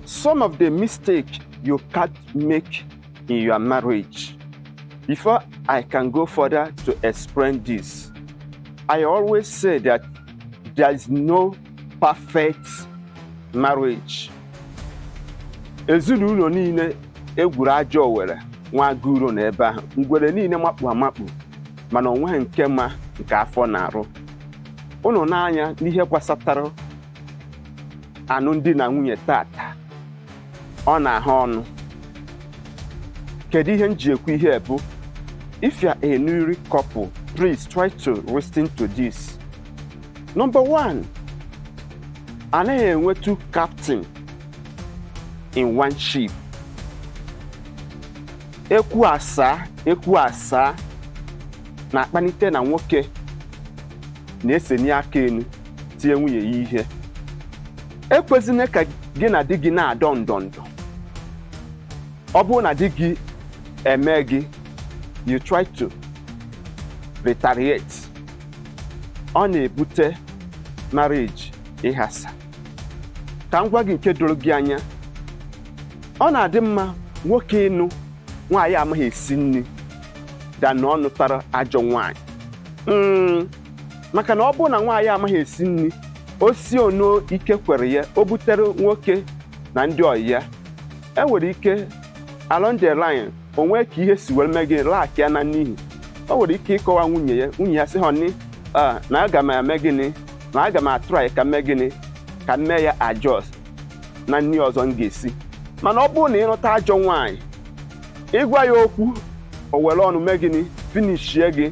some of the mistake you can't make in your marriage. Before I can go further to explain this, I always say that there is no perfect marriage. Ezinụlọ niile egwuru ajọ owere nwa agụro na ebe ahụ ngwere niile makpu amakpu mana onweghị nke ma nke afọ na-arụ ịhụnanya n'ihe gbasatara anụm di na nwunye taata ọ na-ahụ ọnụ kedu ihe m ji ekwu ihe a bụ if you are a newly couple please try to listen to this number one anaghị enwe two captain in one ship e kwuo a saa e kwuo a saa na-akpanite na nwoke na-eseni aka elu tie nwunye ya ihe ekwezina ka gị na di gị na-adọ ndọ ndọ ọ bụrụ na di gị eme gị you try to retaliate ọ na-ebute marriage ịghasa ka m gwa gị nke doro gị anya ọ na-adị mma nwoke ịnụ nwaanyị amaghị esi nri than ọ nụtara ajọ nwaanyị Mm, maka na ọ bụrụ na nwaanyị amaghị esi nri o si ono ike kwere ya o butere nwoke na ndị ọyị ya e nwere ike along the line o nwee ka ihe si were mee gịnị lack ya na nri ahụ o nwere ike ịkọwa nwunye ya nwunye ya sị honey, na aga m eme gịnị na aga m a-try ka m mee gịnị ka m mee ya adjust na nri ọzọ m ga-esi mana ọ bụrụ na ị nụta ajọ nwaanyị ị gwa ya okwu o were ọnụ mee gịnị finishie gị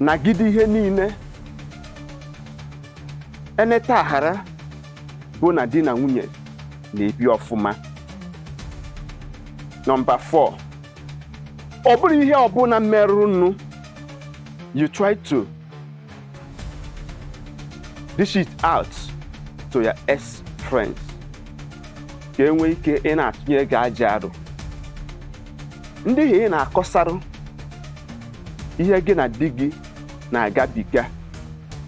nagide ihe niile e neta a ghara bụ na di na nwunye na-ebi ọfụma number 4 ọ bụrụ ihe ọbụla merụrụ ụnụ you try to dish it out to your ex friends ka e nwee ike ịna-atụnyere gị ajọ aro ndị ahụ ị na-akọsarụ ihe gị na di gị na-agabiga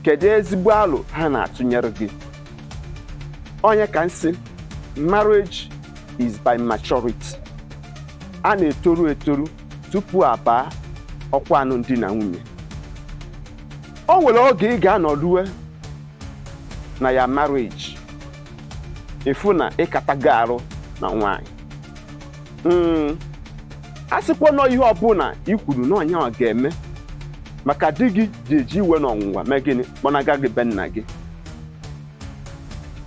kedu ezigbo alo ha na-atụnyere gị ọ ya ka m sị marriage is by maturity a na-etoru etoru tupu a baa ọkwa anụm di na nwunye o nwere oge ị ga-anọrue na ya marriage ị fụ na ị katago arụ na nwaanyị Mm, asịkwana ọ ihe ọbụla i kwuru na ọ nyanwa ga-eme maka di gị je-eji iwe na ọnwụnwa mee gịnị kpọnaga gị be nna gị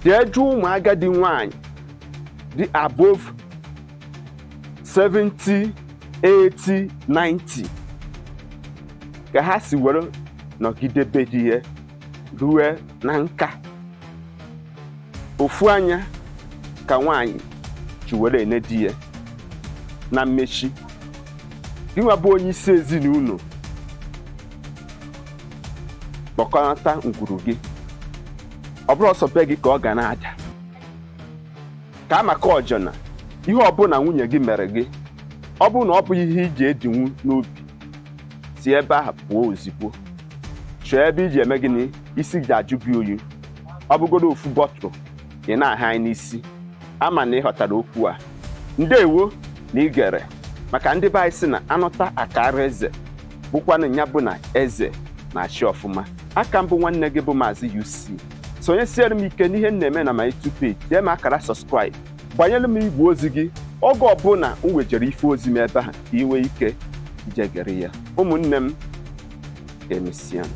jee jụọ ụmụ agadi nwaanyị dị above 70 80 90 ka ha si were nọgide be di ya rue na nka ofu anya ka nwaanyị ji were ene di ya na mmechi gịnwa bụ onye isi ezinụlọ kpọkọnata ngwuru gị ọ bụrọ sọ be gị ka ọ ga na-ada ka a maka ọjọna ihe ọbụla nwunye gị mere gị ọ bụrụ na ọ bụ ihe ị je-edinwu n'obi si ebe ahụ pụọ ozigbo chọọ ebe ị je-eme gịnị isi je-ajụ gị oyi ọ bụgodo ofu bottle ị na-aha anyị n'isi ama m na ị ghọtara okwu a ndewo na i gere maka ndị be anyị si na a nụta a kaara eze bụkwanụ ya bụ na eze na-achị ọfụma aka m bụ nwanne gị bụ maazị UC sonyesiere m ike n'ihe m na-eme na my YouTube page maa akara subscribe gbanyere m igwe ozi gị oge ọbụla m wejere ife ozi m ebe ahụ ka ị nwee ike ije gere ya ụmụnne m ka emesianụ